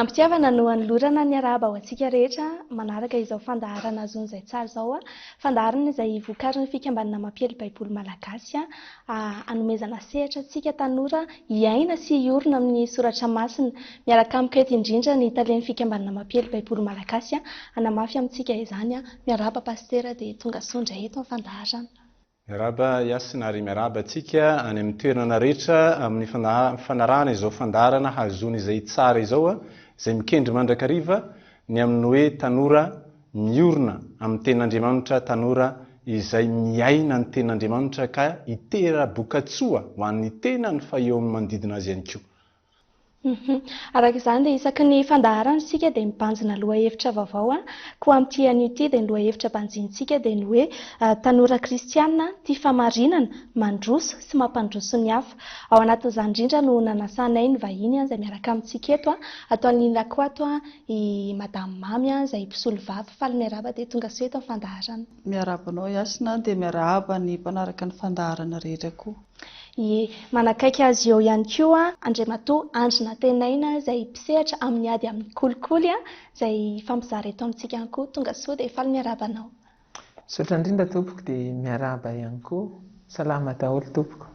Am-pitiavana no anolorana ny arahaba ho antsika rehetra manaraka izao fandaharana Azon'izay Tsara izao, fandaharana izay vokarin'ny Fikambanana Mampiely Baiboly Malagasy. A Hanomezana sehatra antsika tanora hiaina sy hiorina amin'ny soratra masina. Miaraka amiko eto indrindra ny talen'ny fikambanana Mampiely Baiboly Malagasy hanamafy amintsika izany. Miarahaba Pasitera dia tongasoa indray eto amin'ny fandaharana. Miarahaba Yasina ary miarahaba antsika any amin'ny toerana rehetra amin'ny fanarahana izao fandaharana hahazoana izay tsara izao izay mikendry mandrakariva ny amin'ny hoe tanora Miorina amin'ny Tenin'Andriamanitra tanora izay miaina ny Tenin'Andriamanitra ka hitera-bokatsoa ho an'ny tenany fa eo amin'ny manodidina azy ihany koa. Araka izany dia isaky ny fandaharana isika dia mibanjina lohahevitra vaovao koa amin'ity anio ity dia ny lohahevitra banjinintsika dia ny hoe tanora kristiana tia famarinana, mandroso sy mampandroso ny hafa. Ao anatin'izany indrindra no nanasanay ny vahiny izay miaraka amintsika eto, ataon'i Nina Kwato I madame Mamy an, izay mpisolovava, faly miarahaba dia tonga soa eto amin'ny fandaharana. Miarahaba anao Yasina an, dia miarahaba ny mpanaraka ny fandaharana rehetra koa. Ie, manakaiky azy eo ihany koa Andriamatoa Andry Nantenaina izay mpisehatra amin'ny ady amin'ny kolikoly an, izay hifampizara eto amintsika ihany koa. Tonga soa dia faly miarahaba anao. Misaotra indrindra tompoko dia miarahaba ihany koa. Salama daholo tompoko.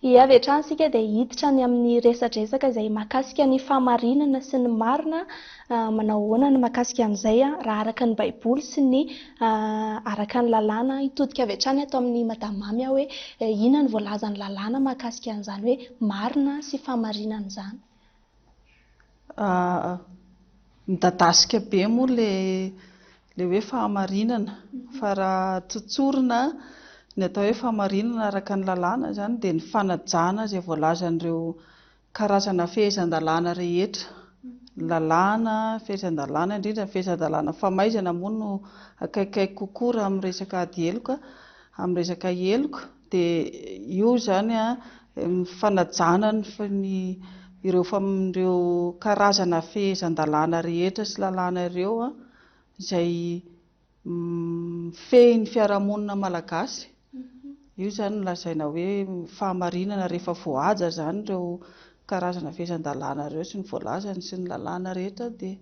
I avy hatrany isika dia hiditra any amin'ny resadresaka izay mahakasika ny fahamarinana sy ny marina manao ahoana ny mahakasika an'izay raha araka ny baiboly sy ny araka ny lalàna hitodika avy hatrany ato amin'ny madame mamy aho hoe inona ny voalazan'ny lalàna mahakasika an'izany hoe marina sy fahamarinana izany Midadasika be moa ilay hoe fahamarinana fa raha tsotsorina ny atao hoe fahamarinana araka ny lalàna izany dia ny fanajana izay voalazan'ireo karazana fehezan-dalàna rehetra, ny lalàna, ny fehezan-dalàna, indrindra ny fehezan-dalàna famaizana moa no akaikikaiky kokoa raha amin'ny resaka ady heloka, amin'ny resaka heloka. Dia io izany an, fanajana ny ireo karazana fehezan-dalàna rehetra sy lalàna ireo izay mifehy ny fiarahamonina malagasy. Io izany no lazaina hoe fahamarinana rehefa voahaja izany ireo karazana fehezan-dalàna ireo sy ny voalazany sy ny lalàna rehetra dia.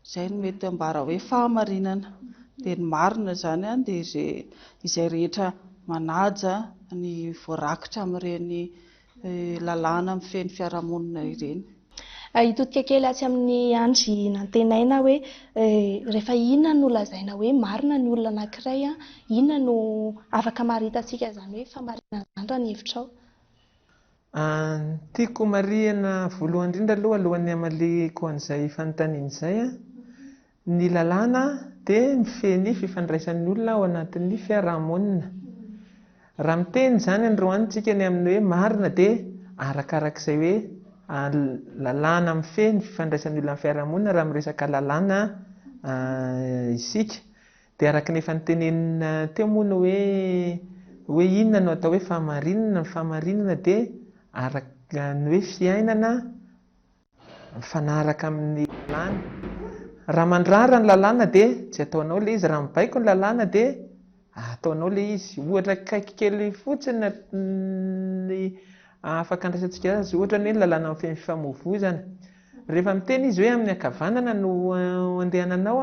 Izay no mety ambara hoe fahamarinana. Dia ny marina izany dia izay rehetra manaja ny voarakitra amin'ireny lalàna mifehy ny fiarahamonina ireny. Hitodika kely atsy amin'ny andry nantenaina hoe rehefa inona no lazaina hoe marina ny olona anankiray, inona no afaka amaritantsika izany hoe fahamarinana izany raha ny hevitrao? An, tiako marihina voalohany indrindra aloha alohan'ny hamaliako an'izay fanontaniana izay an, ny lalàna dia mifehy ny fifandraisan'ny olona ao anatin'ny fiarahamonina. Raha miteny izany androany isika ny amin'ny hoe marina dia arakarak'izay hoe lalàna mifehy ny fifandraisan'ny olona amin'ny fiarahamonina raha miresaka lalàna isika. Dia araka ny efa notenenina teo moa ny hoe, hoe inona no atao hoe fahamarinana, ny fahamarinana dia araka ny hoe fiainana mifanaraka amin'ny lalàna. Raha mandrara ny lalàna dia tsy ataonao ilay izy, raha mibaiko ny lalàna dia ataonao ilay izy. Ohatra akaiky kely fotsiny ny afaka andraisantsika azy ohatra ny hoe ny lalàna mifehy ny fifamoivoizana. Rehefa miteny izy hoe amin'ny ankavanana no andehananao,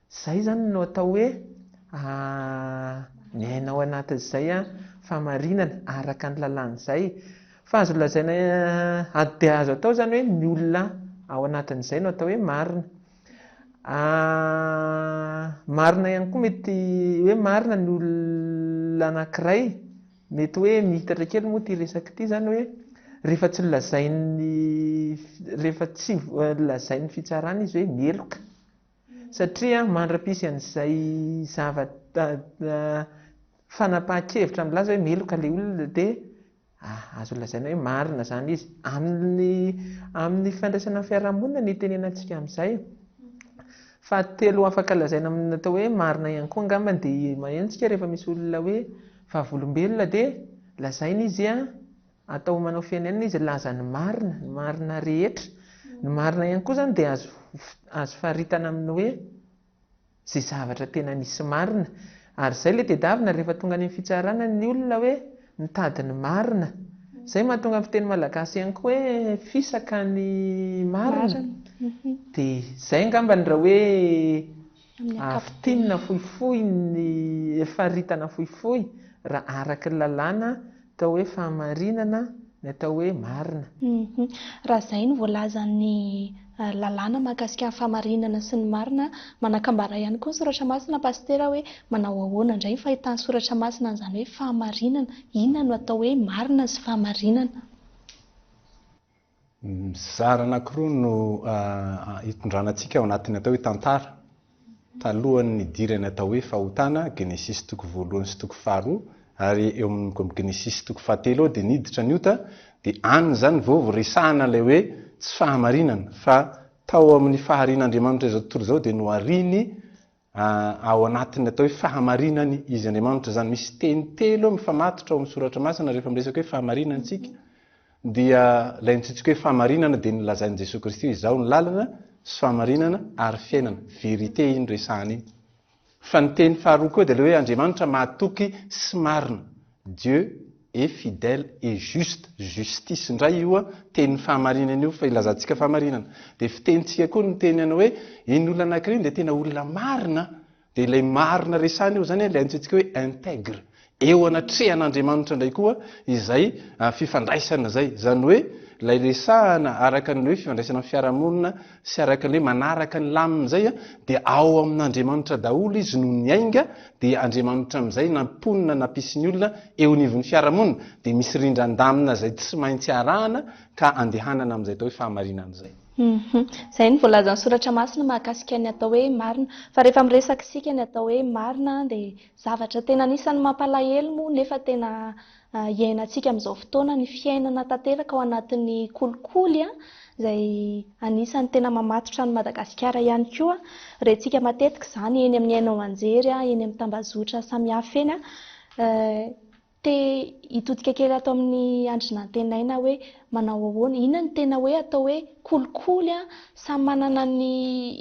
Izay zany no atao hoe aah miaina ao anatin'izay fahamarinana araka ny lalàn'izay. Fa azo lazaina ady dia azo atao zany hoe ny olona ao anatin'izay no atao hoe marina. Aah marina ihany koa mety hoe marina ny olona anankiray, mety hoe mihitatra kely moa ity resaka ity zany hoe rehefa tsy lazain'ny rehefa tsy lazain'ny fitsarana izy hoe meloka. satria mandra-pisy an'izay zava fanapahan-kevitra milaza hoe meloka ilay olona dia azo lazaina hoe marina izany izy, amin'ny amin'ny fifandraisana amin'ny fiarahamonina no itenenantsika amin'izay, fahatelo afaka lazaina amin'ny atao hoe marina ihany koa angambany dia maheno isika rehefa misy olona hoe vavolombelona dia lazaina izy Atao manao firenena izy laza ny marina, ny marina rehetra, ny marina ihany koa izany dia azo azo faritana amin'ny hoe izay zavatra tena misy marina, ary izay ilay tedavina rehefa tonga any amin'ny fitsarana ny olona hoe mitady ny marina, izay mahatonga ny fiteny malagasy ihany koa hoe fisaka ny marina, dia izay angambany raha hoe. Avy tinina fohifohy ny faritana fohifohy raha araka ny lalàna atao hoe fahamarinana ny atao hoe marina. Raha izay no voalazan'ny lalàna mahakasika ny fahamarinana sy ny marina, manakambara ihany koa ny soratra masina Pasitera hoe manao ahoana indray ny fahitan'ny soratra masina an'izany hoe fahamarinana? Inona no atao hoe marina sy fahamarinana? Mizara anankiroa no hitondrana antsika ao anatin'ny atao hoe tantara. Talohan'ny nidiran'ny atao hoe fahotana, Genesisy toko voalohany sy toko faharoa, ary eo amin'ny Genesisy toko fahatelo ao dia niditra ny ota, dia any izany vao resahana ilay hoe tsy fahamarinana, fa tao amin'ny faharian'Andriamanitra izao tontolo izao dia nohariany Ao anatin'ny atao hoe fahamarinany izy Andriamanitra izany. Misy teny telo mifamatotra ao amin'ny soratra masina rehefa miresaka hoe fahamarinana isika. Dia ilay mitsitsika hoe fahamarinana dia ny lazain'i Jesoa Kristy hoe izaho ny lalana sy fahamarinana ary fiainana. Vérité iny resahana iny. Fa ny teny faharoa koa dia ilay hoe Andriamanitra mahatoky sy marina. Dieu est fidèle et juste, justice indray io tenin'ny fahamarinana io fa ilazantsika fahamarinana dia fitenintsika koa ny teny anao hoe iny olona anankiray dia tena olona marina dia ilay marina resahina eo izany ilay antsointsika hoe intègre eo anatrehan'Andriamanitra indray koa izay fifandraisana izay izany hoe ilay resahana araka ny hoe fifandraisana amin'ny fiarahamonina sy araka ny hoe manaraka ny laminy izay dia ao amin'Andriamanitra daholo izy no niainga dia Andriamanitra amin'izay na mponina na mpisin'ny olona eo anivon'ny fiarahamonina dia misy rindran-damina izay tsy maintsy arahana ka andehanana amin'izay atao hoe fahamarinana izay. Izay no voalazan'ny soratra masina mahakasika ny atao hoe marina. Fa rehefa miresaka isika ny atao hoe marina dia zavatra tena anisan'ny mampalahelo moa nefa tena iainantsika amin'izao fotoana, ny fiainana tanteraka ao anatin'ny kolikoly izay anisan'ny tena mamatotra an'i Madagasikara ihany koa. Rentsika matetika izany eny amin'ny haino aman-jery, eny amin'ny tambazotra samihafa eny. Te hitodika kely ato amin'ny andry nantenaina hoe manao ahoana, inona no tena hoe atao hoe kolikoly an, samy manana ny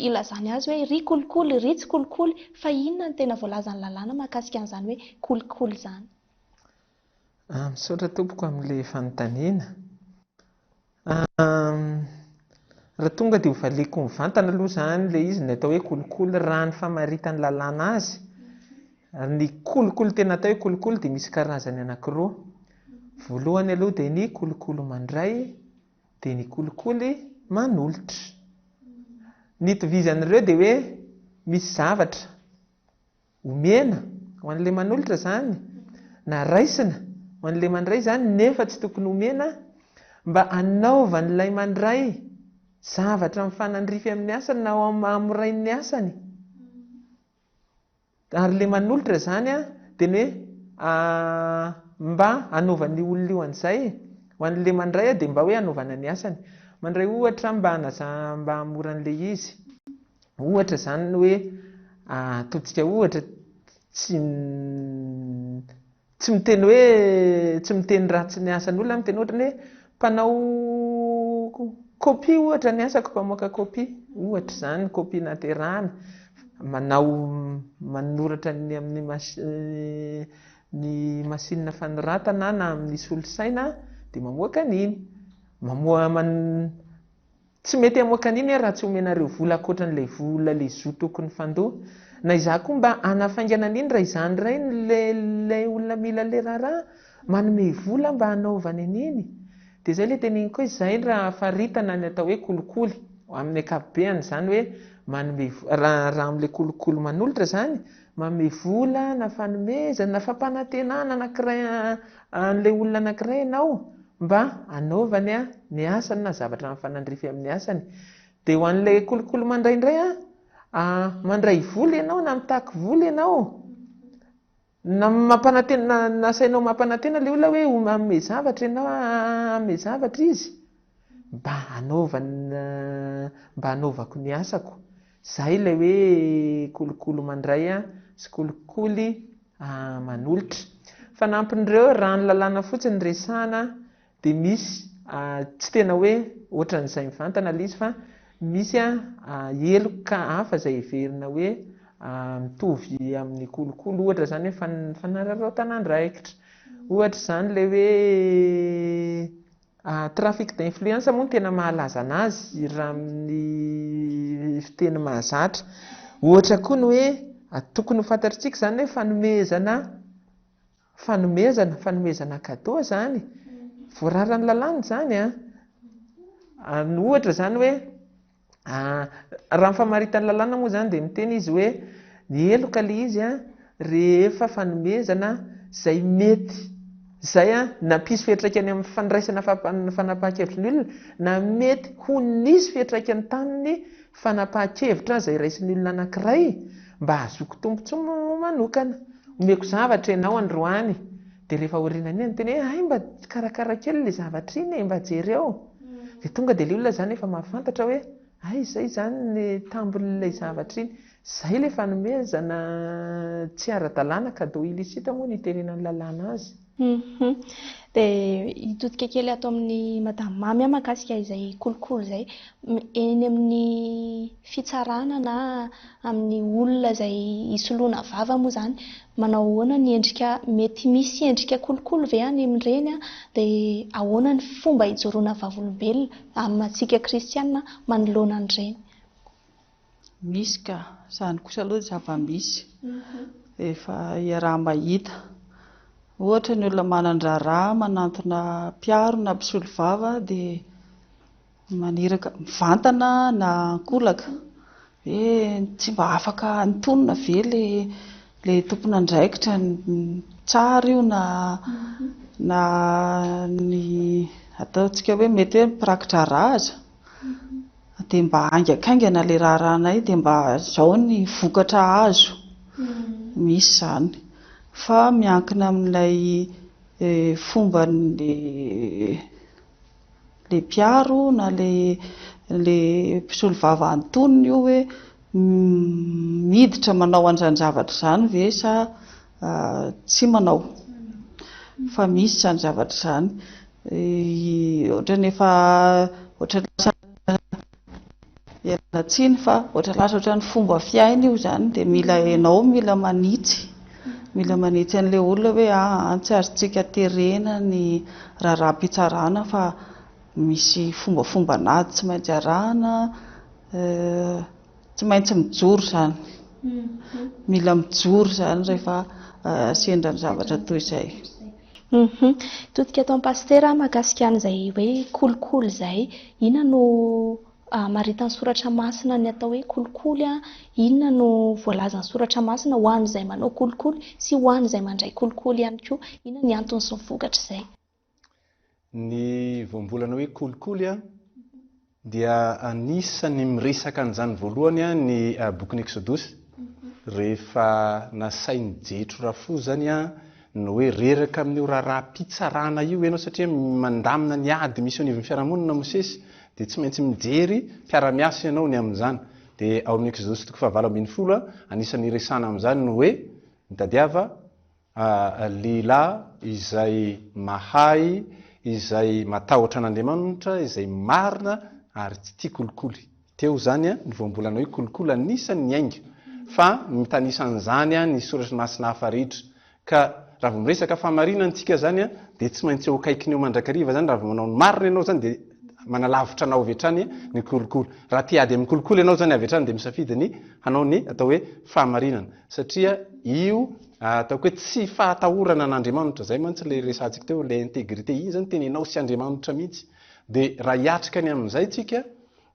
ilazany azy hoe ry kolikoly, ry tsy kolikoly, fa inona no tena voalazan'ny lalàna mahakasika an'izany hoe kolikoly izany. Ah, misaotra tompoko amin'ilay fanontaniana. Ah, raha tonga dia hovaliako mivantana aloha izany ilay izy ny atao hoe kolikoly raha ny famaritan'ny lalàna azy. Ny kolikoly tena atao hoe kolikoly dia misy karazany anankiroa. Voalohany aloha dia ny kolikoly mandray, dia ny kolikoly manolotra. Ny itovizan'ireo dia hoe misy zavatra Omena ho an'ilay manolotra izany, na raisina ho an'ilay mandray izany nefa tsy tokony homena, mba hanaovan'ilay mandray zavatra mifanandrify amin'ny asany na hamorainy ny asany. Ary ilay manolotra izany dia ny hoe mba hanaovan'io olona io an'izay. Ho an'ilay mandray dia mba hoe hanaovana ny asany. Mandray ohatra mba mba hamoran'ilay izy. Ohatra izany hoe ataontsika ohatra tsy tsy miteny hoe tsy miteny ratsy ny asan'olona aho miteny ohatra ny hoe mpanao copie ohatra ny asako mpamoaka copie ohatra izany copie naterana manao manoratra ny amin'ny ny masinina fanoratana na amin'ny solosaina dia mamoaka an'iny mamoa Tsy mety hamoaka an'iny aho raha tsy omenareo vola ankoatran'ilay vola le zo tokony fandoa. Na izaho koa mba hanafaingana an'iny raha izaho indray no le le olona mila le raharaha, manome vola mba hanaovany an'iny. Dia izay le teneniko hoe izay raha faritana ny atao hoe kolikoly, amin'ny ankapobeany, izany hoe manome vola, raha raha amin'ilay kolikoly manolotra izany, Manome vola na fanomezana na fampanantenana anankiray an'ilay olona anankiray ianao mba hanaovany ny asany na zavatra mifanandrify amin'ny asany. Dia ho an'ilay kolikoly mandray indray, mandray vola ianao na mitaky vola ianao na nasainao mampanantena ilay olona hoe hanome zavatra ianao, hanome zavatra izy mba hanaovako ny asako. Izay ilay hoe kolikoly mandray sy kolikoly manolotra. Fanampin'ireo, raha ny lalàna fotsiny no resahana dia misy, tsy tena hoe ohatran'izay mivantana ilay izy fa misy heloka hafa izay heverina hoe mitovy amin'ny kolikoly. Ohatra izany hoe fanararaotan'andraikitra. Ohatra izany ilay hoe Trafic d'influence moa no tena mahalaza anazy raha amin'ny fiteny mahazatra. Ohatra koa ny hoe, tokony ho fantatritsika izany hoe fanomezana fanomezana, fanomezana cadeau izany, voararan'ny lalàna izany an, ohatra izany hoe. Raha ny famaritan'ny lalàna moa izany dia miteny izy hoe ny heloka ilay izy rehefa fanomezana izay mety izay nampisy fiantraikany amin'ny fandraisana fanapahan-kevitry ny olona na mety ho nisy fiantraikany tamin'ny fanapahan-kevitra izay raisin'ny olona anankiray mba hahazoako tombontsoa manokana. Omeko zavatra ianao androany. Dia rehefa aorianan'iny dia niteny hoe hay mba karakara kely ilay zavatra iny e, mba jereo. Dia tonga dia ilay olona izany efa mahafantatra hoe hay izay izany ny tambin'ilay zavatra iny. Izay ilay fanomezana tsy ara-dalàna, cadeau illicite moa no iterenan'ny lalàna azy. Dia hitodika kely ato amin'i Madame Mamy aho mahakasika izay kolikoly izay. Eny amin'ny fitsarana na. amin'ny olona izay hisoloana vava moa izany manao ahoana ny endrika mety misy endrika kolokolo ve any amin'ireny dia ahoana ny fomba hijoroana vavolombelona amintsika kristiana manoloana an'ireny Misy ka! Izany kosa aloha dia zava-misy. Mhm. Efa iaraha-mahita. Ohatra, ny olona manan-draharaha manantona mpiaro na mpisolovava dia Maniraka mivantana na ankolaka. Hoe tsy mba afaka antonona ve ilay tompon'andraikitra tsara io na na ny ataontsika hoe mety hoe mpiraki-draharaha aza dia mba haingankaingana ilay raharahanay dia mba izao ny vokatra azo. Misy izany. Fa miankina amin'ilay fomban'ilay le mpiaro na le le mpisolovava antonony io hoe miditra manao an'izany zavatra izany ve sa tsy manao fa misy izany zavatra izany ohatrany efa ohatrany lasa Ialana tsiny fa ohatra lasa ohatran'ny fomba fiaina io izany dia mila ianao mila manitsy mila manitsy an'ilay olona hoe aa ah, tsy azontsika terena ny raharaham-pitsarana fa misy fombafombanazy tsy maintsy arahana eh, tsy maintsy mijoro izany mila mijoro izany rehefa eh, sendra ny zavatra toy izay. Humm todika ataony pasitera a makasika an'izay hoe kolikoly izay inona no amaritany soratra masina ny atao hoe kolikoly a inona no voalazany soratra masina ho an'izay manao kolikoly sy ho an'izay mandray kolikoly ihany koa inona ny antony sy ny vokatr'izay Ny voambolana hoe kolikoly a, dia anisan'ny miresaka an'izany voalohany a, ny bokin'ny Eksodosy, rehefa nasain'i Jetro Rafo zany a, ny hoe reraka amin'io raharaham-pitsarana io ianao satria mandamina ny ady misy eo anivon'ny fiarahamonina Mosesy, dia tsy maintsy mijery mpiara-miasa ianao ny amin'izany. Dia ao amin'ny Eksodosy toko fahavalo ambin'ny folo a, anisan'ny iresahana amin'izany ny hoe, mitadiava, A lehilahy izay mahay, izay matahotra an'Andriamanitra, izay marina ary tsy tia kolikoly. Teo izany a, ny voambolana hoe kolikoly anisan'ny niainga, fa mitanisa an'izany a ny Soratra Masina hafa rehetra. Ka raha vao miresaka fahamarinana isika izany a, dia tsy maintsy eo akaikiny eo mandrakariva izany, raha vao manao ny marina ianao izany dia manalavitra anao avy hatrany ny kolikoly. Raha te hady amin'ny kolikoly ianao izany avy hatrany dia misafidy ny hanao ny atao hoe fahamarinana. Satria io ataoko hoe tsy fahatahorana an'Andriamanitra, izay mantsy ilay resahantsika teo, ilay integrite, iny izany tena ianao sy Andriamanitra mihitsy. Dia raha hiatrika ny amin'izay tsika,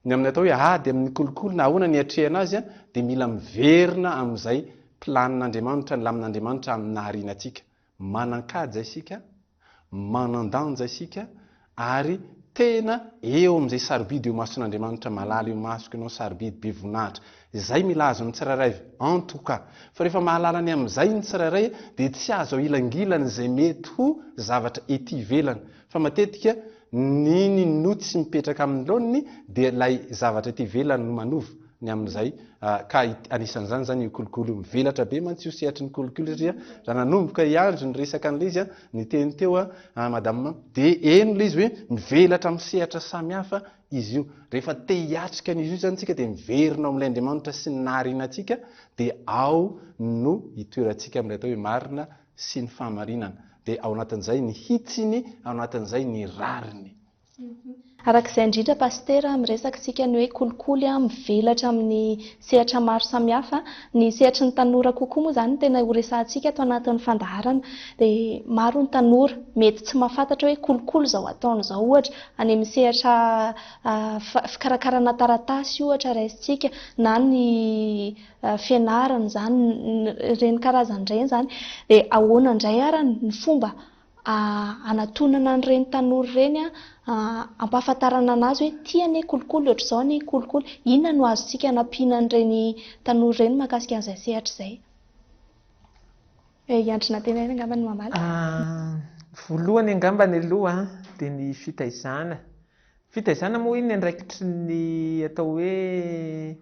ny amin'ny atao hoe ady amin'ny kolikoly na ahoana ny hiatrehana azy, dia mila miverina amin'izay planin'Andriamanitra, ny lamin'Andriamanitra amin'ny nahariana antsika. Manan-kaja isika, manan-danja isika, ary tena eo amin'izay sarobidy eo imason'Andriamanitra, malala eo masoko ianao, sarobidy, be voninahitra. Izay mila azo ny tsirairay, en tout cas. Fa rehefa mahalala ny amin'izay ny tsirairay, dia tsy azo ahilangilan'izay mety ho zavatra ety ivelany. Fa matetika, Nini no tsy mipetraka amin'ny laoniny dia ilay zavatra ety ivelany no manova ny amin'izay ka anisan'izany izany io kolikoly io. Mivelatra be mantsy io sehatry ny kolikoly satria raha nanomboka i Andry niresaka an'ilay izy niteny teo an madama dia heno ilay izy hoe mivelatra amin'ny sehatra samihafa izy io. Rehefa te hiatrika an'izy io izany isika dia miverina ao amin'ilay Andriamanitra sy ny nahariana antsika dia ao no itoerantsika amin'ilay atao hoe marina sy ny fahamarinana, dia ao anatin'izay ny hitsiny, ao anatin'izay ny rariny. Araka izay indrindra Pasitera, miresaka isika ny hoe kolikoly mivelatra amin'ny sehatra maro samihafa. Ny sehatry ny tanora kokoa moa izany no tena ho resahantsika ato anatin'ny fandaharana. Dia maro ny tanora mety tsy mahafantatra hoe kolikoly izao ataony izao ohatra, any amin'ny sehatra fikarakarana taratasy ohatra raisintsika, na ny fianarana izany ireny karazany ireny izany dia ahoana indray ary ny fomba anatonana an'ireny tanora ireny a ampahafantarana an'azy hoe ity anie kolikoly ohatr'izao anie kolikoly inona no azontsika anampiana an'ireny tanora ireny mahakasika an'izay sehatra izay i Andry Nantenaina angamba no mamaly voalohany angambany aloha dia ny fitaizana fitaizana moa iny ny andraikitry ny atao hoe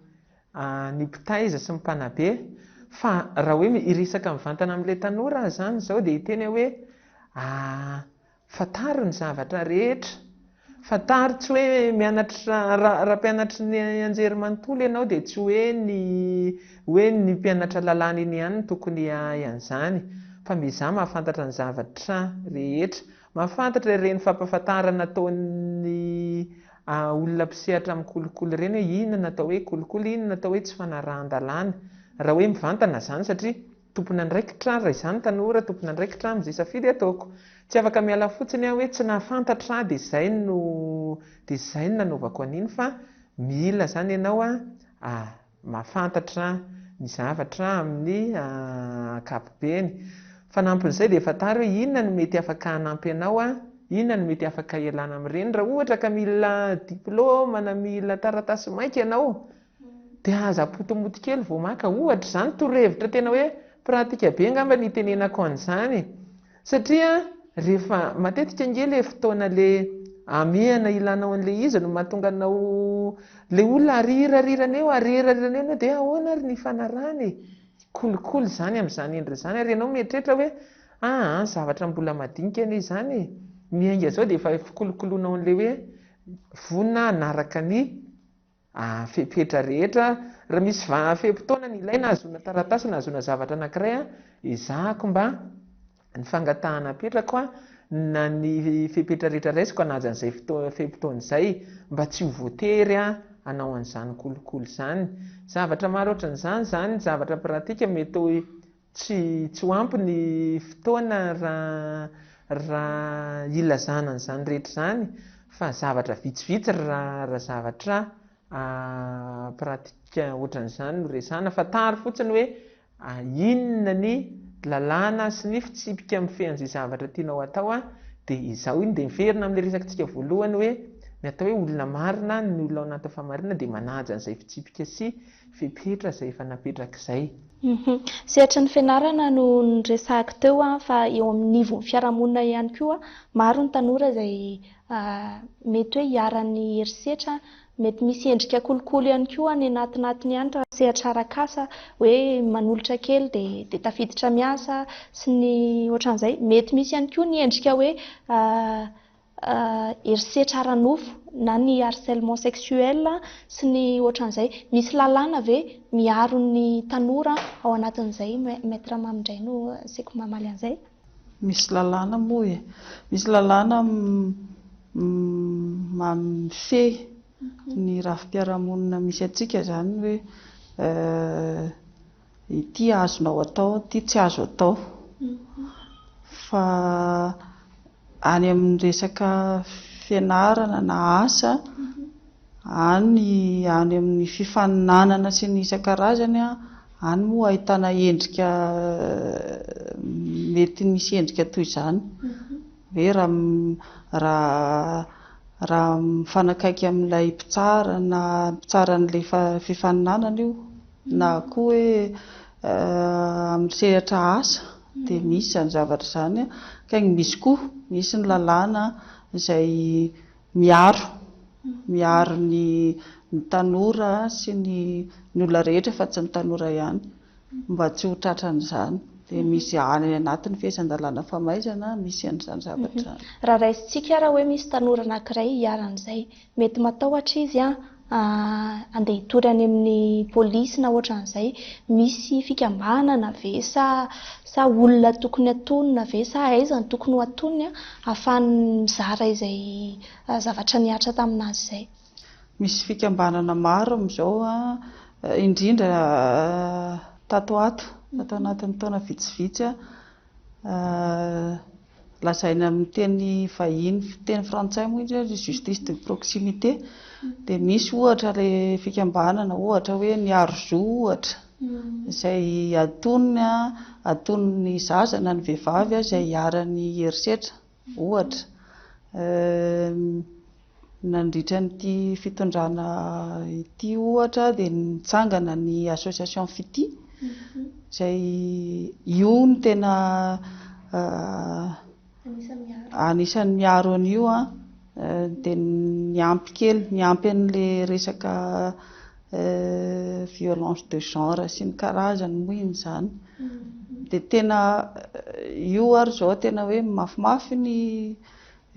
ny mpitaiza sy ny mpanabe fa raha hoe hiresaka mivantana amin'ilay tanora aza izany izao dia hiteny aho hoe fantaro ny zavatra rehetra, fantaro tsy hoe mianatra, raha mpianatry ny anjerimanontolo ianao dia tsy hoe ny hoe ny mpianatra lalàna iny ihany no tokony hahay an'izany fa miezaha mahafantatra ny zavatra rehetra Mahafantatra ireny fampahafantarana ataon'ny olona mpisehatra amin'ny kolikoly ireny hoe inona no atao hoe kolikoly, inona no atao hoe tsy fanarahan-dalàna. Raha hoe mivantana izany satria tompon'andraikitra, raha izaho no tanora, tompon'andraikitra aho amin'izay safidy ataoko. Tsy afaka miala fotsiny aho hoe tsy nahafantatra aho dia izay no dia izay no nanaovako an'iny fa mila izany ianao a. mahafantatra ny zavatra amin'ny ankapobeny. Fanampin'izay dia fantaro hoe inona no mety afaka hanampy anao, inona no mety afaka hialana amin'ireny. Raha ohatra ka mila diplaoma na mila taratasy maika ianao dia aza apotomoto kely vao maka ohatra izany, torohevitra tena hoe pratika be angamba no itenenako an'izany e. Satria rehefa matetika ange le fotoana le amehana ilanao an'le izy no mahatonga anao le olona arirarirana eo arirarirana eo enao de ahoana ary ny fanarahana e! kolikoly zany am'zany endriny zany ary enao mieritreritra hoe aa zavatra mbola madinika anie izany e! miainga zao de efa fikolokoloanao an'le hoe vonona hanaraka ny A. Fepetra rehetra, Raha misy va fe-potoana ny ilaina hahazoana taratasy na hahazoana zavatra anankiray, ezahako mba ny fangatahana apetrako na ny fepetra rehetra raisiko hanaja an'izay fe-potoana izay mba tsy ho voatery hanao an'izany kolikoly izany. Zavatra maro ohatran'izany izany, zavatra pratika mety ho. Tsy tsy ho ampy ny fotoana raha raha hilazana an'izany rehetra izany fa zavatra vitsivitsy raha raha zavatra pratique ohatran'izany no resahana. Fantaro fotsiny hoe inona ny lalàna sy ny fitsipika mifehy an'izay zavatra tianao atao dia izao iny dia miverina amin'ilay resakantsika voalohany hoe ny atao hoe olona marina ny olona ao anatin'ny fahamarinana dia manaja an'izay fitsipika sy Fepetra izay efa napetrak'izay. Humm. Sehatry ny fianarana no niresahako teo an, fa eo amin'ny nivon'ny fiarahamonina ihany koa, maro ny tanora izay mety hoe iharan'ny herisetra, mety misy endrika kolikoly ihany koa any anatinatiny any raha sehatra arak'asa, hoe manolotra kely dia tafiditra miasa sy ny ohatran'izay. Mety misy ihany koa ny endrika hoe herisetra ara-nofo na ny harcèlement sexuel sy ny ohatran'izay. Misy lalàna ve miaro ny tanora ao anatin'izay Maître Mamy indray no asiako mamaly an'izay? Misy lalàna moa e! Misy lalàna mifehy ny rafi-piarahamonina misy antsika izany hoe Ity azonao atao, ity tsy azo atao. Fa any amin'ny resaka fianarana na asa, any any amin'ny fifaninanana sy ny isan-karazany, any moa ahitana endrika mety misy endrika toy izany. Hoe raha raha mifanakaiky amin'ilay mpitsara na mpitsara an'ilay fifaninanana io. Na koa hoe amin'ny sehatra asa dia misy izany zavatra izany kaingy misy koa, misy ny lalàna izay miaro miaro ny ny tanora sy ny ny olona rehetra fa tsy ny tanora ihany mba tsy ho tratran'izany. Dia misy any anatin'ny fehezan-dalàna famaizana misy an'izany zavatra izany. Raha raisintsika ary hoe misy tanora anankiray iharan'izay Mety matahotra izy an, andeha hitory any amin'ny polisy na ohatran'izay, misy fikambanana ve sa sa olona tokony hatonina ve sa aiza no tokony ho atoniny an, ahafahany mizara izay zavatra nihatra tamin'azy izay. Misy fikambanana maro amin'izao an, indrindra tato ato, tato anatin'ny taona vitsivitsy an. Lazaina amin'ny teny vahiny fiteny frantsay moa izy hoe justice de proximité dia misy ohatra ilay fikambanana ohatra hoe ny Arzo ohatra hmm. izay atonony atonony zaza na ny vehivavy izay iharan'ny herisetra ohatra ehm, Nandritra an'ity fitondrana ity ohatra dia nitsangana ny association Fitia izay io no tena anisan'ny miaro an'io dia niampy kely, niampy an'ilay resaka violence de genre sy ny karazany moa iny izany. Dia tena io ary izao tena hoe mafimafy ny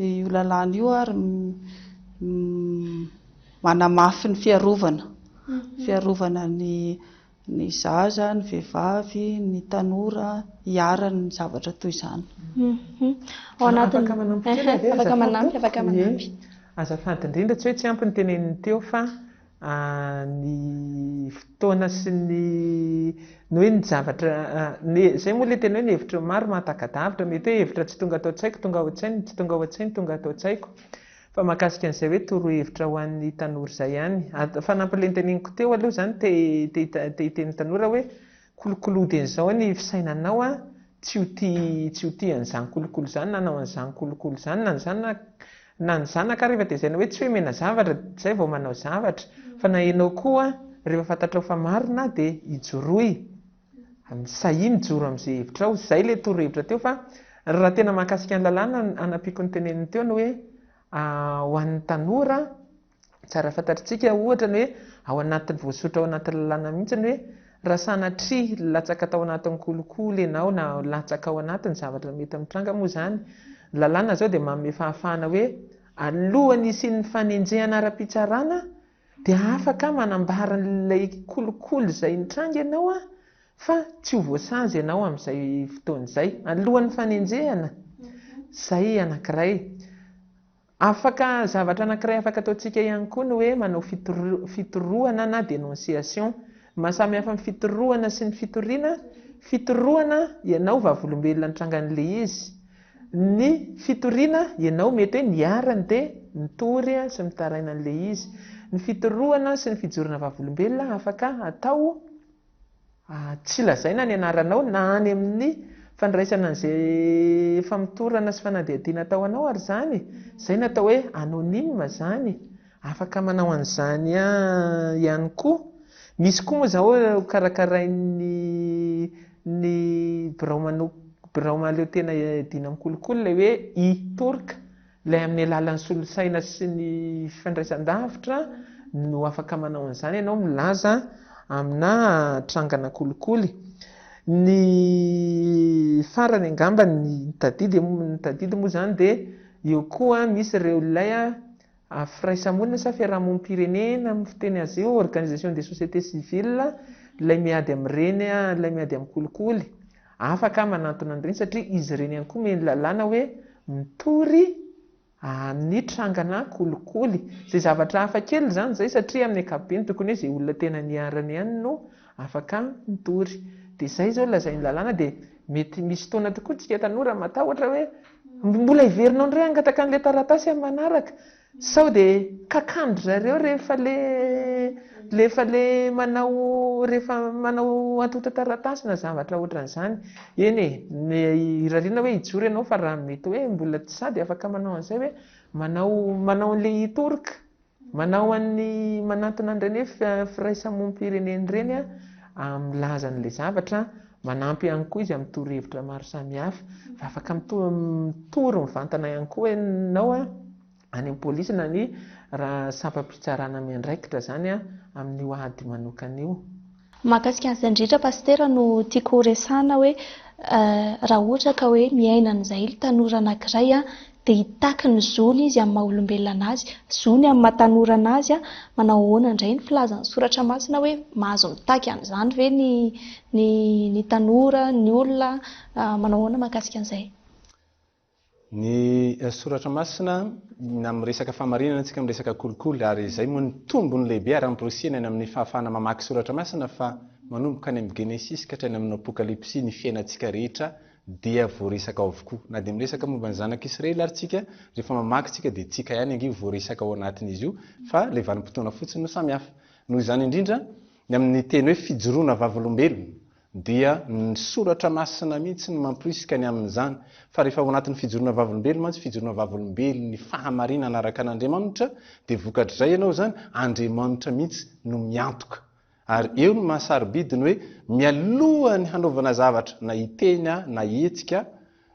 Io lalàna io ary manamafy ny fiarovana, fiarovana ny ny zaza, ny vehivavy, ny tanora hiharan' ny zavatra toy izany. Afaka manampy kely ve azafady? Azafady indrindra tsy hoe tsy ampy ny teneniny teo fa ny fotoana sy ny ny hoe ny zavatra izay moa ilay tena hoe ny hevitra maro mahataka-davitra mety hoe hevitra tsy tonga ato an-tsaiko tonga ao an-tsainy tsy tonga ao an-tsainy tonga ato an-tsaiko fa mahakasika an'izay hoe torohevitra ho an'ny tanora izay ihany fa nampilenteneniko teo aloha izany te te hiteny tanora hoe Kolokolo dia izao ny fisainanao an, tsy ho tia tsy ho tia an'izany kolokolo izany na hanao an'izany kolokolo izany na ny zanaka na ny zanaka rehefa dia izay na hoe tsy hoe omena zavatra dia izay vao manao zavatra fa na ianao koa rehefa fantatrao fa marina dia ijoroy sahia mijoro amin'izay hevitrao, izay ilay torohevitra teo fa raha tena mahakasika ny lalàna ny hanampiako ny teneniny teo ny hoe ho an'ny tanora Tsara fantatritsika, ohatra, ny hoe ao anatin'ny voasoritra ao anaty lalàna mihitsy ny hoe raha sanatria latsaka tao anatin'ny kolikoly ianao na latsaka ao anatin'ny zavatra mety mitranga moa izany, ny lalàna izao dia manome fahafahana hoe alohan'ny hisian'ny fanenjehana ara-pitsarana dia afaka manambara an'ilay kolikoly izay nitranga ianao fa tsy ho voasazy ianao amin'izay fotoana izay. Alohan'ny fanenjehana. Izay anankiray. Afaka, zavatra anankiray afaka ataontsika ihany koa ny hoe manao fitorohana na dénonciation. Ny maha samy hafa ny fitorohana sy ny fitoriana, fitorohana, ianao vavolombelona nitranga an'ilay izy. Ny fitoriana, ianao mety hoe niharany dia mitory sy mitaraina an'ilay izy. Ny fitorohana sy ny fijorana vavolombelona afaka atao Tsy lazaina ny anaranao na any amin'ny fandraisana an'izay famotorana sy fanadihadiana atao anao ary izany, izay no atao hoe anonyme izany, afaka manao an'izany ihany koa. Misy koa moa izao karakarain'ny ny birao birao mahaleotena iadiana amin'ny kolikoly ilay hoe e-Turk. Ilay amin'ny alalan'ny solosaina sy ny fandraisan-davitra no afaka manao an'izany ianao, milaza aminà trangana kolikoly. Ny farany angamba ny tadidy, ny tadidy moa izany dia eo koa misy ireo ilay firaisamonina sa fiarahamonim-pirenena amin'ny fiteny azy io, organisation des sociétés civiles, ilay miady amin'ireny, ilay miady amin'ny kolikoly. Afaka manantona an'ireny satria izy ireny ihany koa omeny lalàna hoe mitory amin'ny trangana kolikoly. Izay zavatra hafa kely izany izay satria amin'ny ankapobeny tokony hoe izay olona tena niharany ihany no afaka mitory. Dia izay izao lazain'ny lalàna dia mety misy fotoana tokoa isika tanora matahotra hoe mbola heverinao indray hangataka an'ilay taratasy amin'ny manaraka. Sao dia kakan-dry zareo rehefa le rehefa le manao rehefa manao antontan-taratasy na zavatra ohatran'izany. Eny e, irariana hoe hijoro ianao fa raha mety hoe mbola tsy sady afaka manao an'izay hoe manao manao an'ilay hitorka, manao an'ny manantona an'ireny hoe firaisamonim-pirenena ireny an, milaza an'ilay zavatra Manampy ihany koa izy amin'ny torohevitra maro samihafa. Fa afaka mitory mivantana ihany koa ianao any amin'ny polisy na ny sampam-pitsarana miandraikitra izany amin'io ady manokana io. Mahakasika an'izay indrindra Pasitera no tiako horesahana hoe raha ohatra ka hoe miaina an'izay tanora anankiray dia hitaky ny zony izy amin'ny maha olombelona anazy, zony amin'ny maha tanora anazy, manao ahoana indray ny filazan'ny soratra masina hoe mahazo mitaky an'izany ve ny ny ny tanora, ny olona, manao ahoana mahakasika an'izay? Ny soratra masina na miresaka fahamarinana antsika miresaka kolikoly ary izay moa ny tombony lehibe ary amporisihina any amin'ny fahafahana mamaky soratra masina fa manomboka any amin'ny genesisy ka hatrany amin'ny apokalypsy ny fiainantsika rehetra dia voaresaka ao avokoa. Na dia miresaka momba ny zanak'i Israely ary tsika, rehefa mamaky tsika dia tsika ihany ange voaresaka ao anatin'izy io fa ilay vanim-potoana fotsiny no samy hafa. Noho izany indrindra, ny amin'ny teny hoe fijoroana vavolombelona dia ny soratra masina mihitsy no mamporisika ny amin'izany. Fa rehefa ao anatin'ny fijoroana vavolombelona mantsy, fijoroana vavolombelon'ny fahamarinana araka an'Andriamanitra, dia vokatr'izay ianao izany, Andriamanitra mihitsy no miantoka Ary eo ny maha-sarobidy ny hoe mialoha ny hanaovana zavatra na hiteny aho na hihetsika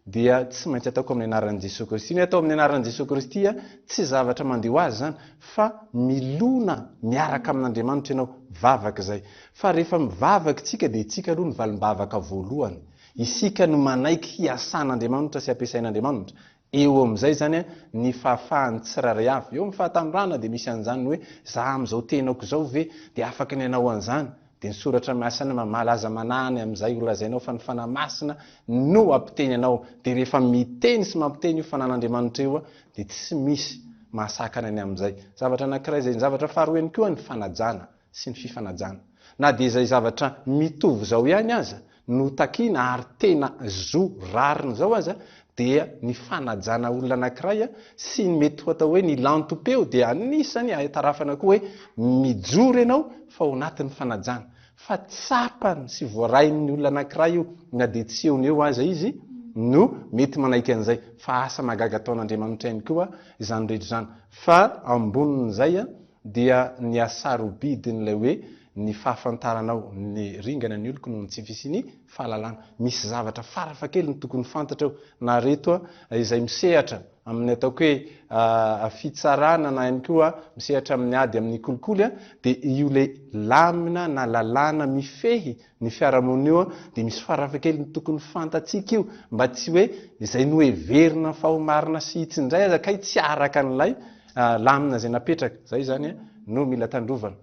dia tsy maintsy ataoko amin'ny anaran'i Jesoa Kristy. Ny atao amin'ny anaran'i Jesoa Kristy tsy zavatra mandeha ho azy izany fa milona miaraka amin'Andriamanitra ianao, vavaka izay. Fa rehefa mivavaka isika dia isika aloha ny valim-bavaka voalohany. Isika no manaiky hiasan'Andriamanitra sy hampiasain'Andriamanitra. Eo amin'izay izany ny fahafahan'ny tsirairay avy. Eo amin'ny fahatanorana dia misy an'izany hoe za amin'izao tenako izao ve dia afaka ny hanao an'izany? Dia ny soratra masina mamala aza manahy ny amin'izay holazainao fa ny Fanahy Masina no hampiteny anao. Dia rehefa miteny sy mampiteny io Fanan'Andriamanitra io dia tsy misy mahasakana ny amin'izay. Zavatra anankiray izay. Ny zavatra faharoa ihany koa ny fanajana. sy ny fifanajana. Na dia izay zavatra mitovy izao ihany aza no takiana ary tena zo rariny izao aza dia ny fanajana olona anankiray sy ny mety ho atao hoe ny lantom-peo dia anisany ahatarafana koa hoe mijoro ianao fa ao anatin'ny fanajana fa tsapany sy voarain'ny olona anankiray io na dia tsy eo no eo aza izy no mety manaiky an'izay fa asa mahagaga ataon'Andriamanitra ihany koa izany rehetra izany fa ambonin'izay Dia ny hasarobidin'ilay hoe ny fahafantaranao ny ringana ny oloko noho ny tsy fisian'ny fahalalana. Misy zavatra farafahakeliny tokony fantatra eo. Na reto izay misehatra amin'ny ataoko hoe fitsarana na ihany koa misehatra amin'ny ady amin'ny kolikoly dia io ilay lamina na lalàna mifehy ny fiarahamonina io dia misy farafahakeliny tokony fantatsika io mba tsy hoe izay noheverina fa ho marina sy hitsy indray aza kay tsy araka an'ilay ah, lamina izay napetraka, izay izany eh, no mila tandrovana.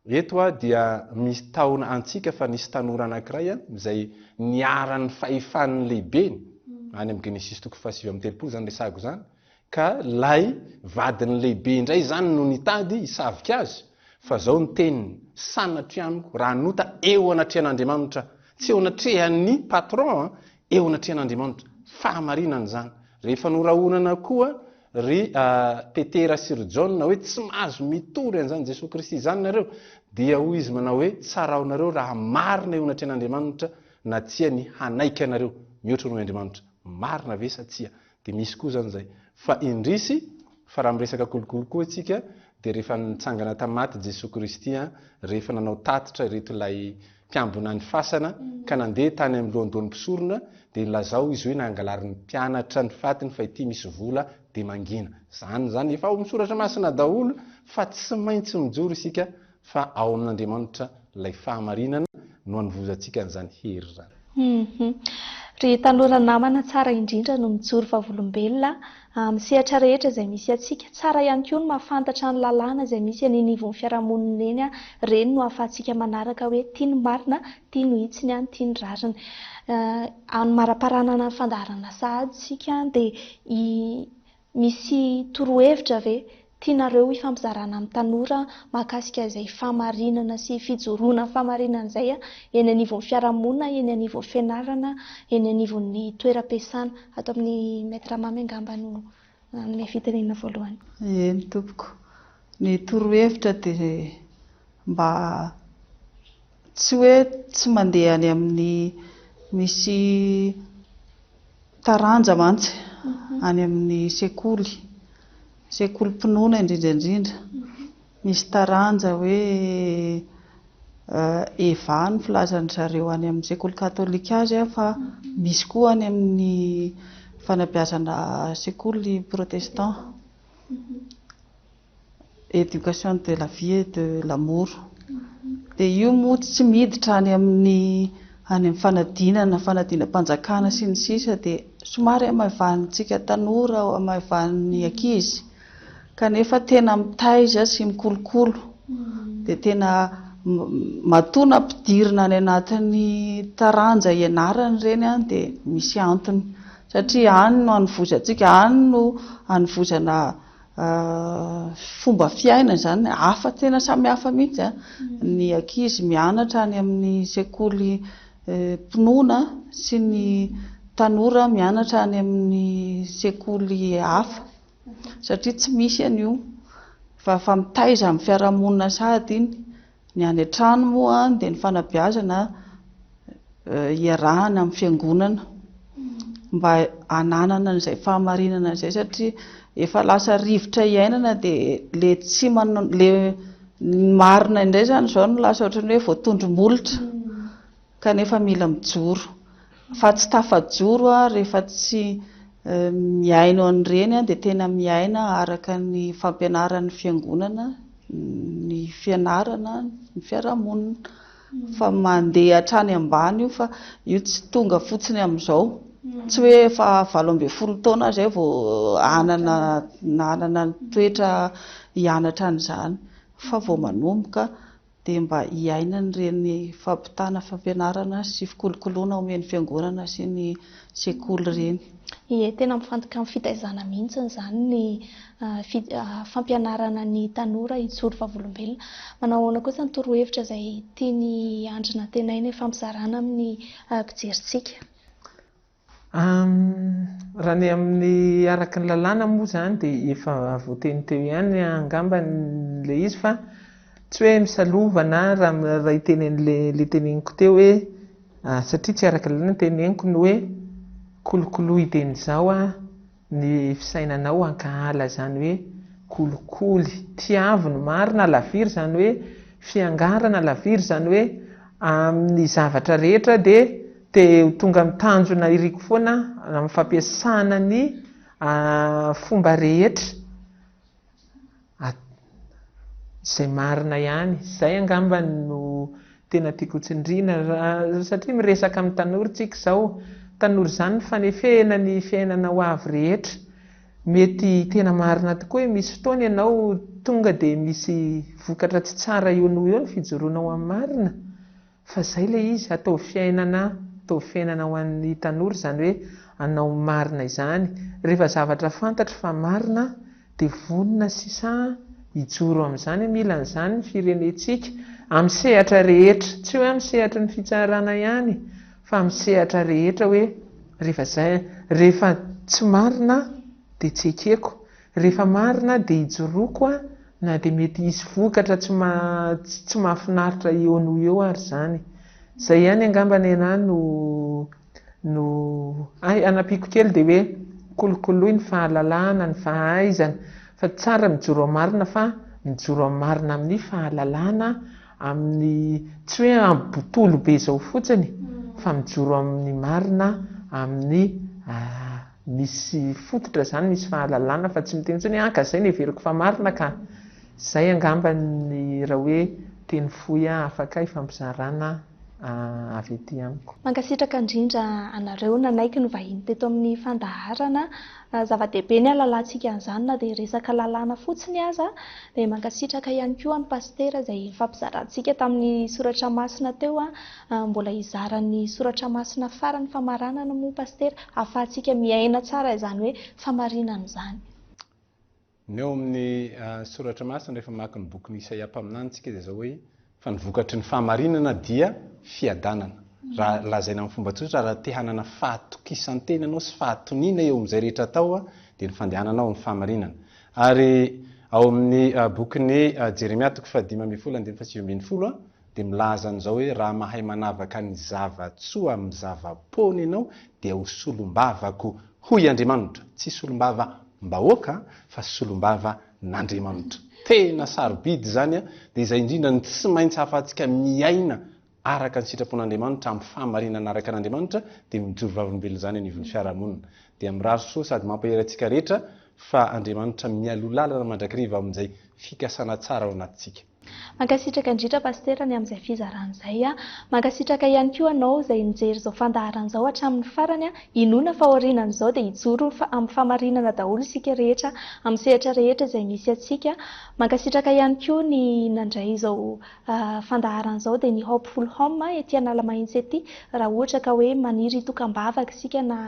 Eto ah, dia misy tahona antsika fa nisy tanora anankiray ah, izay niharan'ny fahefan'ny lehibeny, hmm. any amin'ny Genesisy toko fahasivy amin'ny telopolo izany resahako izany, ka lay vadin'ny lehibe indray izany no nitady hisavika azy fa zao ny teniny sanatry amiko raha nota eo anatrehan'andriamanitra tsy eo anatrehan'ny patron eo anatrehan'andriamanitra fahamarinana izany rehefa norahonana koa Ry Petera sy ry Jaona hoe tsy mahazo mitory an'izany Jesoa Kristy izany nareo, dia hoy izy manao hoe tsaraonareo raha marina eo anatrehan'Andriamanitra na tsia ny hanaiky anareo mihoatra noho Andriamanitra. Marina ve sa tsia? Dia misy koa izany izay. Fa indrisy fa raha miresaka kolikoly koa isika Dia rehefa nitsangana tamin'ny maty i Jesoa Kristy, rehefa nanao tatitra ireto ilay mpiambina ny fasana ka nandeha tany amin'ny lohandohan'ny mpisorona, dia nilazao izy hoe nangalarin'ny mpianatra ny fatiny fa ity misy vola dia mangina. Izany izany, efa ao amin'ny soratra masina daholo fa tsy maintsy mijoro isika fa ao amin'Andriamanitra Ilay fahamarinana no anovozantsika an'izany hery izany. Humm. Ry tanora namana tsara indrindra no mijoro vavolombelona amin'ny sehatra rehetra izay misy antsika. Tsara ihany koa ny mahafantatra ny lalàna izay misy any anivon'ny fiarahamonina eny. Ireny no ahafahantsika manaraka hoe ty ny marina, ty no hitsiny any, ty ny rariny. Amin'ny maraparanana ny fandaharana sahady isika dia i. Misy torohevitra ve tianareo hifampizarana amin'ny tanora mahakasika izay fahamarinana sy fijoroana amin'ny fahamarinana izay eny anivon'ny fiarahamonina, eny anivon'ny fianarana, eny anivon'ny toeram-piasana? Ato amin'ny Maître Mamy angamba no hanome fitenenana voalohany. Eny tompoko, ny torohevitra dia mba. Tsy hoe tsy mandeha any amin'ny misy taranja mantsy any amin'ny sekoly, sekolim-pinoana indrindra indrindra. Misy taranja hoe EVA no filazan-dry zareo any amin'ny sekoly katolika azy fa misy koa any amin'ny fanabeazana sekoly protestant. Education de la vie et de l'amour dia io moa tsy miditra any amin'ny any amin'ny fanadinana, fanadinam-panjakana sy ny sisa dia somary hamaivanintsika tanora, hamaivanin'ny ankizy kanefa tena mitaiza sy mikolokolo dia tena matoa nampidirina any anatin'ny taranja ianarana ireny dia misy antony satria any no hanovozantsika, any no hanovozana fomba fiaina izany hafa tena samy hafa mihitsy a ny ankizy mianatra any amin'ny sekoly mpinoana sy ny tanora mianatra any amin'ny sekoly hafa satria tsy misy an'io fa fa mitaiza amin'ny fiarahamonina sahady iny Ny any an-trano moa dia ny fanabeazana iarahana amin'ny fiangonana mba hananana an'izay fahamarinana izay satria efa lasa rivotra iainana dia ilay tsy manana, ilay ny marina indray izany izao no lasa ohatran'ny hoe voatondro-molotra. Kanefa mila mijoro. Fa tsy tafajoro aho rehefa tsy mihaino an'ireny dia tena miaina araka ny fampianaran'ny fiangonana ny fianarana ny fiarahamonina. Fa mandeha hatrany ambany io fa io tsy tonga fotsiny amin'izao. Tsy hoe efa valo ambin'ny folo taona aho izay vao hanana nanana ny toetra hianatra an'izany fa vao manomboka. dia mba hiainan'ireny fampitana fampianarana sy fikolokoloana omen'ny fiangonana sy ny sekoly ireny. Ie, tena mifantoka amin'ny fitaizana mihitsy izany ny fampianarana ny tanora hijoro vavolombelona. Manao ahoana kosa ny torohevitra izay tian'i Andry nantenaina hifampizarana amin'ny mpijerintsika? Raha ny amin'ny araka ny lalàna moa izany dia efa voateny teo ihany angamba ilay izy fa tsy hoe misalova na raha hiteny an'ilay teneniko teo hoe satria tsy araka ny lalàna ny teneniko ny hoe kolokoloy dieny izao aho. ny fisainanao ankahala izany hoe kolikoly tiavo ny marina alaviry izany hoe fiangarana alaviry izany hoe amin'ny zavatra rehetra dia te ho tonga amin'ny tanjona iriko foana amin'ny fampiasana ny fomba rehetra At izay marina ihany. Izay angamba no tena tiako ho tsindriana. Satria miresaka amin'ny tanora isika izao. Tanora izany no fanefehana ny fiainana ho avy rehetra. Mety tena marina tokoa hoe misy fotoana ianao tonga dia misy vokatra tsy tsara eo noho eo ny fijoroanao amin'ny marina. Fa zay le izy, ataovy fiainana, ataovy fiainana ho an'ny tanora izany hoe anao marina izany, rehefa zavatra fantatro fa marina dia vonona sisa hijoro amin'izany, mila an'izany ny firenentsika, amin'ny sehatra rehetra, tsy hoe amin'ny sehatry ny fitsarana ihany fa amin'ny sehatra rehetra hoe rehefa zay, rehefa tsy marina dia tsy ekeko, Rehefa marina dia ijoroako a! na dia mety hisy vokatra tsy tsy tsy mahafinaritra eo noho eo ary izany. Izay ihany angamba nenah no no hay hanampiako kely dia hoe kolokoloy ny fahalalahana, ny fahaizana fa tsara mijoro amin'ny marina fa mijoro amin'ny marina amin'ny fahalalana amin'ny tsy hoe amin'ny botolo be izao fotsiny fa mijoro amin'ny marina amin'ny Misy fototra izany, misy fahalalana fa tsy miteny intsony hoe an ka izay no heveriko fa marina ka! Izay angamba ny raha hoe teny fohy afaka ifampizarana avy ety amiko. Mankasitraka indrindra anareo nanaiky ny vahiny teto amin'ny fandaharana. Zava-dehibe ny hahalalantsika an'izany na dia resaka lalàna fotsiny aza. Dia mankasitraka ihany koa an'i Pasitera izay nifampizarantsika tamin'ny soratra masina teo. Mbola hizara ny soratra masina farany famaranana moa Pasitera ahafahantsika miaina tsara izany hoe famarinana izany. Ny eo amin'ny soratra masina rehefa mamaky ny bokin'i Isaia mpaminany isika dia izao hoe fa ny vokatry ny fahamarinana dia fiadanana. Raha lazaina amin'ny fomba tsotra raha te hanana fahatokisan-tena ianao sy fahatoniana eo amin'izay rehetra atao dia ny fandehananao amin'ny fahamarinana. Ary ao amin'ny bokin'i Jeremia toko fahadimy ambin'ny folo andininy fahasivy ambin'ny folo dia milaza an'izao hoe, Raha mahay manavaka ny zava-tsoa amin'ny zava-poana ianao, dia ho solombavako, hoy Andriamanitra. Tsy solombavambahoaka, fa solombavan'Andriamanitra. Tena sarobidy izany, dia izay indrindra no tsy maintsy ahafahantsika miaina araka ny sitrapon'Andriamanitra, amin'ny fahamarinana araka an'Andriamanitra, dia mijoro vavolombelona izany anivon'ny fiarahamonina. Dia mirary soa sady mampahery antsika rehetra fa Andriamanitra mialoha lalana mandrakariva amin'izay fikasana tsara ao anatintsika. Mankasitraka indrindra Pasitera ny amin'izay fizarana izay. Mankasitraka ihany koa anao izay nijery izao fandaharana izao hatramin'ny farany. Inoana fa aorianan'izao dia hijoro fa amin'ny fahamarinana daholo isika rehetra amin'ny sehatra rehetra izay misy antsika. Mankasitraka ihany koa ny nandray izao fandaharana izao dia ny Hopeful Home ety Analamahitsy ety. Raha ohatra ka hoe maniry hitoka am-bavaka isika na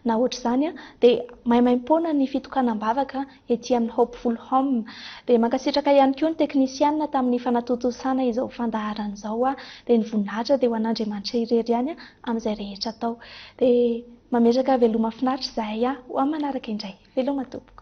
na ohatr'izany dia maimaim-poana ny fitokanam-bavaka. ety amin'ny Hopeful Home. Dia mankasitraka ihany koa ny teknisianina tamin'ny fanatontosana izao fandaharana izao aho. Dia ny voninahitra dia ho an'Andriamanitra irery ihany amin'izay rehetra atao. Dia mametraka veloma finaritra izahay aho ho amin'ny manaraka indray. Veloma tompoko.